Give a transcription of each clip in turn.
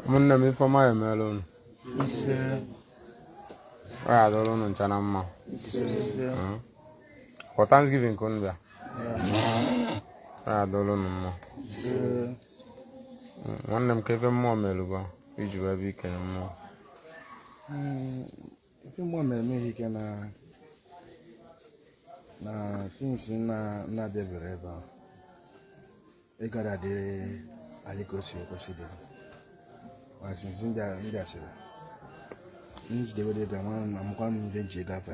ụmụnne m ife ọma ya emere unu ọ ya adịrị unu ncha na mma for thanksgiving ka unu bịa ọ ya adịrị unu mma nwanne m kee ife mmụọ mere gị iji wee bịa ikele mmụọ hmm, ife mmụọ mere m ike na na since na-abịabere ebe a ịgara dị anyị ka o si kwesị ịdị ma since ndị asịrị njidewere ebe a mara na amakwa m ndị nji ego afọ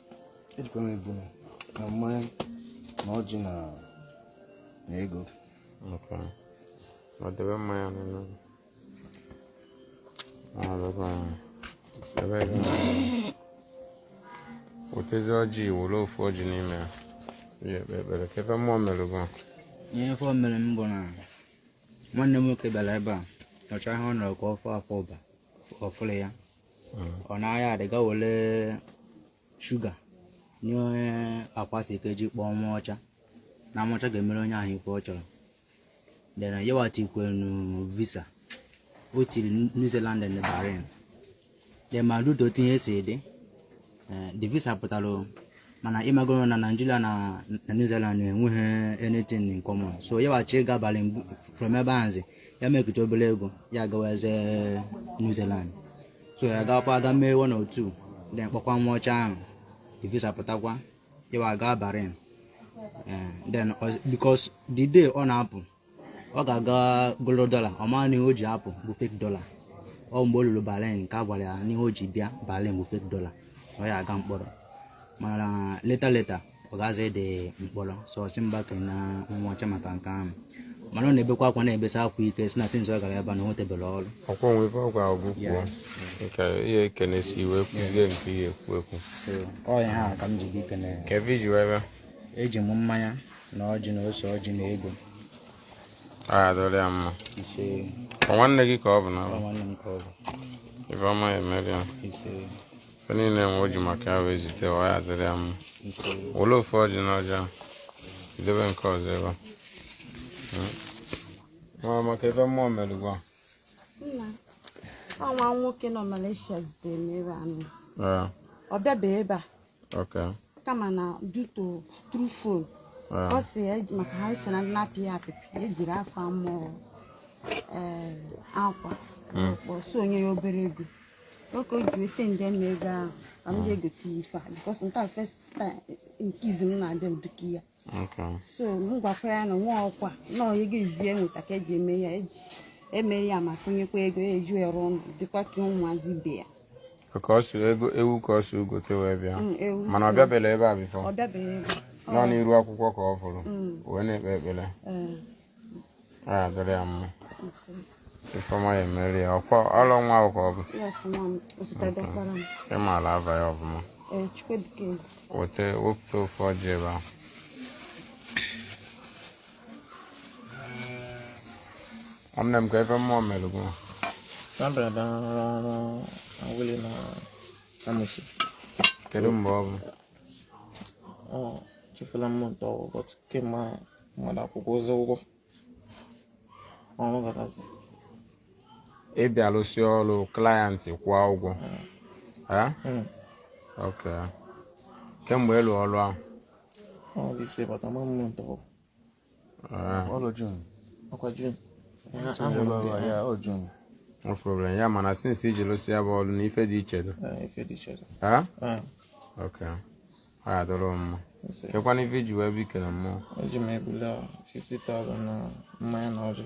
ejikwara m ebu na mmanya na ọjị na na ego ọdebe mmanya n'ụlọ ọdebe mmanya debe ego wetezi ọjị were ofu ọjị n'ime ya ya ekpe ekpere kee ife mmụọ mere gị ihe ife o mere m bụ na nwanne m nwoke bịara ebe a nọcha ihe ọ nọrọ ka ọ fọ afọ ụba ọfụrụ ya ọ na-ahịa adịga were shuga na akwa sị ka eji kpọọ nwa ọcha na nwa ọcha ga-emere onye ahụ ife ọ chọrọ then ya wa tikwenu visa o tiri new zealand and bahrain ị marụ otu things si dị eh, the visa pụtara mana ịmagoro na naijiria na new zealand enweghị anything in common so ya wa chọ ịga bahrain from ebe ahụzi ya mekụta obere ego ya gawazie new zealand so ya gawakwa ga mee one or two then kpọkwa nwa ọcha ahụ the visa pụtakwa ya wa gaa bahrain eh, then because the day ọ na-apụ ọ gara ga goro dọla ọ maghị na ihe o ji apụ bụ fake dọla ọ mgbe o lulu bahrain ka a gwara ya na ihe o ji bịa bahrain bụ fake dọla ọ ya aga mkpọrọ mana later later ọ gazighị mkpọrọ so ọ sị m bịa kene nwa ọcha maka nke ahụ mana ọ na-ebekwa akwa na-ebesi akwa ike sị na since ọ gara ebe na o nwetebere ọrụ ọkwa nwe ife ọ gwa gị kwuo nke ihe ekene si iwe kwuzie nke ihe ekwu ekwu ọ ihe a ka m ji bịa ikene kee ife iji wee bịa eji m mmanya na ọjị na ose ọjị na ego adịrị ya mma ise nwanne gị ka ọ bụ na nwanne m ka ọ bụ ife ọma ya emere ya ise ife niile nwe o ji maka ya wee zite ọ ya adịrị ya mma were ofu ọjị na ọjị ahụ idebe nke ọzọ ebe a hmm. nwanne m kee ife mmụọ mere gị nwa nwoke nọ Malaysia zitere m ebe a ọ bịabeghị ebe a Okay. kama na duto through phone Ah. ọ sị ya maka ha so na ndị na-apị apịpị ejiri afọ amụọ ee akwa ọkpọ so o nye ya obere ego nke o ji o sende m ego ahụ ka m ga-egote ya ife a because nke a first time nke izi m na-abịa ụdịka ya Okay. so m gwakwa ya na nwa ọkwa nọọ ego izi enweta ka eji eme ya eji eme ya ma kụnyekwa ego ya eji ya rụọ ụlọ dịkwa ka ụmụazị ibe ya ka ọ si ego ewu ka ọ si ugote wee bịa mm, mana ị bịabela ebe a before nọ n'iru akwụkwọ ka ọ fụrụ mm. wee na-ekpe ekpere eh. a dịrị ya mma ife ọma ya emere ya ọkwa ọlọ nwa ahụ ka ọ bụ ị maara aba ya ọbụma eh, weta wepụta ofu ọjị ebe ahụ nwanne m kee ife mmụọ mere gị kedu mgbe ọ bụ ọ chefula m ntọ ụbọchị kemgbe mmadụ akwụkwọ ozi ụgwọ ọrụ garazi ị bịa lụsị ọrụ client kwụọ ụgwọ hmm. Hmm. ok kemgbe ịlụ ọrụ ahụ ọ dị ise bata ma m ntọ Ah. ọrụ June ọkwa June no problem ya mana since iji lụsị ya bụ ọrụ na ife dị iche dị ah, ah. ok ọ ya dọrọ mma kekwanụ ife iji wee bịa ikele mmụọ eji m ebule 50,000 na mmanya na ọjị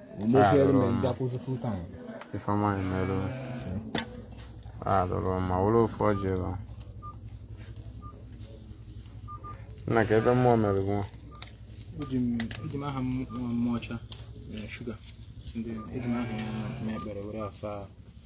ife ọma emere alụrụ ma were ofu ọjị ụlọ nna kee ife mmụọ mere nwa eji m aha mmụọ ọcha shuga ndị eji m aha ya na ekpere were asa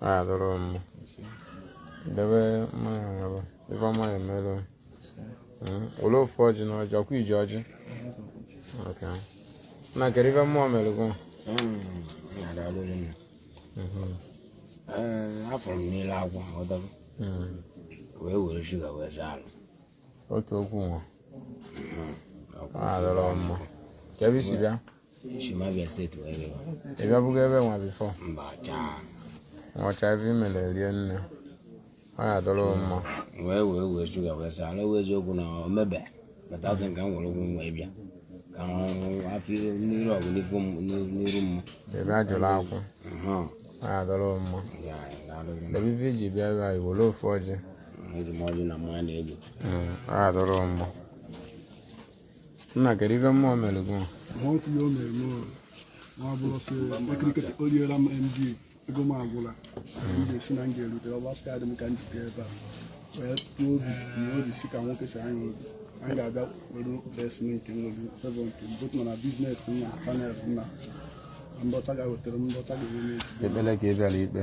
adịrọ m debe mmanya ngaba ife ọma ya emere were ofu ọjị na ọjị ọkwa iji ọjị na kedu ife mmụọ mere gị afọrọ m n'ile agwa ọdọrọ wee were shuga wee saa ala otu okwu nwa adịrọ mma kee ebe i si bịa Esi m Abia State wee bịa. Ị bịabụgo ebe nwa before? Mba chaa. Ọcha ife imele rie nne. Ọ ya dọrọ mma. Wee wee wee shuga wee saa ala wee eziokwu na o mebe. Bata asị nke m were ụgwọ nwa ịbịa. Ka afọ n'iru ọgụ n'ifu m n'iru m. Ị bịa jụrụ akwụ. Ọ ya dọrọ mma. Ebe ife iji bịa ebe a i were ofu ọjị. Eji m ọjị na mmanya na-egbu. Ọ ya dọrọ mma. nna kedu ife mmụọ mere gị ma ọ kwụnye o mere m ma ọ bụrụ sị ekiriketa o riela m md ego m agwụla m ga-esi na m ga-erute ọ gbasịka adị m ka m jide ebe a wee tụọ obi na obi si ka nwoke si anya obi anyị ga-abịa were besi nke nwere favour nke m bụtụ na business m na channel m na ndọcha ga-wetara m ndọcha ga-enwe n'ezi ekpere ka ị bịara ikpe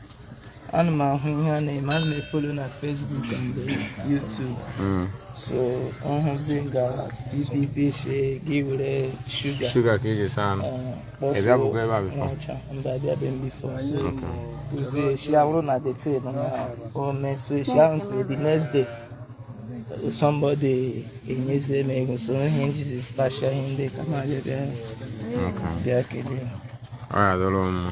ana m ahụ ihe a na-eme ana m e-follow na Facebook and YouTube hmm. so m hụzi nga ị sị gị were sugar sugar ka e ji saa ahụ eh, ị bịago ebe a before mba abịabe m before so uzie eshi awụrụ na the thing na-eme so eshi ahụ nke the next day somebody enyezie m ego so ihe m jizi stashia ihe ndị ka m bịa bịa kelee ọ ya dọrọ mma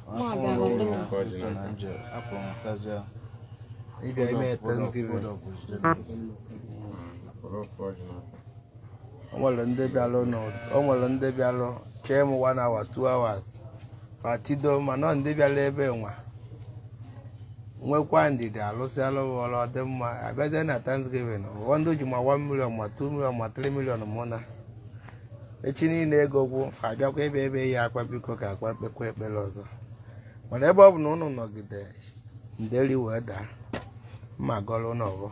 ịbịa ime Thanksgiving o nwere ndị bịalụ n'ụt- o nwere ndị bịalụ chee m one hour two hours fa tido mana ọ ndị bịara ebe nwa nwekwa ndidi a lụsịalụ fa ọrụ ọ dị mma abịazie na Thanksgiving ụfọdụ ji ma 1 million ma 2 million ma 3 million mụ na echi niile ego gwụ fa abịakwa ebe ebe ya akwa biko ka a kpa kpekwa ekpere ọzọ mana ebe ọ bụ na ụnụ nọgide nderi wee daa m agọrọ ụnụ ọfọ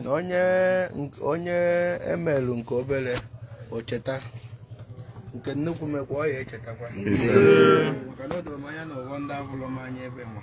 na onye onye e melụ nke obere o cheta nke nnukwu mekwa ọ ya-echetakwa maka na o doro m anya na ụgwọ ndị abụrụ m anya ebe nwa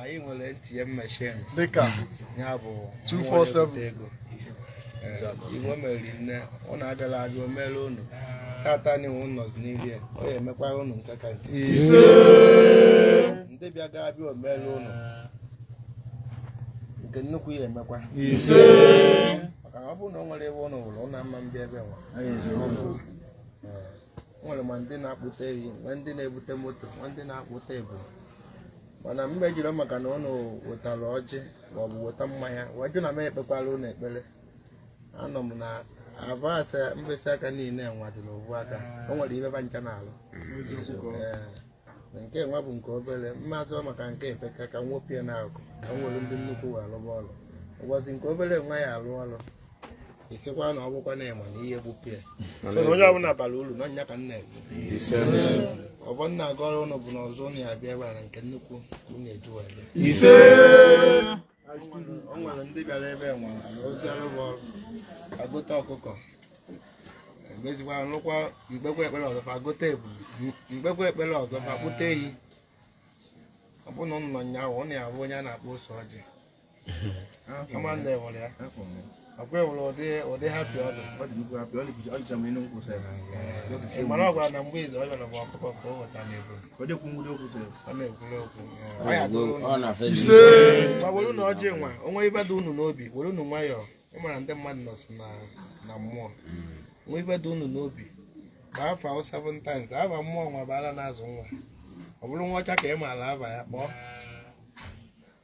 anyị nwere ATM machine dịka ya bụ 247 ego ị wemere n'ime ọ na-abịala abịa o mere unu tata na iwu nọzi n'iri ya ọ ya-emekwara unu nke ka nke ndị bịa ga-abịa o mere unu nke nnukwu ya emekwa maka na ọ bụrụ na o nwere ebe ụnụ hụrụ ụnụ ama abịa ebe nwa nwere ma ndị na-akpụta ehi ma ndị na-ebute moto ma ndị na-akpụta ebu mana m ma ejiri maka na ụnụ wetarọ ọjị maọbụ weta mmanya wee jụ na m ekpekwara ụnụ ekpere anọ m na abas mkpịsị aka niile nwa dị n'ovu aka o nwere ihe ba ncha na-alụ Ee, nke nwa bụ nke obere m ma asị ọ maka nke a epeka ka m wepụ ya n'aka ka m were ndị nnukwu wee lụba ọrụ ụbọchị nke obere nwa ya-alụ ọrụ ị sịkwa na ọ bụkwa na ị ma na ihe gbupụ ya so na onye ọbụla bara uru na ọ ya ka nna ọfọ m na-agọrọ ụnụ bụ na ọzọ ụnụ ya-abịa bụrụ nke nnukwu ka ụnụ eji wee bịa ise o nwere ndị bịara ebe nwa a rụsịarụ fa ọrụ fa gote ọkụkọ emezikwa nụkwa m kpekwa ekpere ọzọ fa gote ebu m kpekwa ekpere ọzọ fa kpụta ehi ọ bụrụ na ụnụ nọ nyaahụ ụnụ ya-afụ onye a na-akpọ ose ọjị ama nne were ya ọkwa ewere ụdị ụdị hapi ọdụ ị mara ọ gwara na mgbe izu ọ bịara bụ ọkụkọ ka o weta n'ego ọ na-ekwuru okwu ma were unu ọjị nwa o nwe ibe dị unu n'obi were unu nwayọọ ịmara ndị mmadụ nọ nso na mmụọ nwe ibe dị unu n'obi ka afọ ahụ seven times aba mmụọ nwa bụ ala na-azụ nwa ọ bụrụ nwa ọcha ka ị maara aba ya kpọọ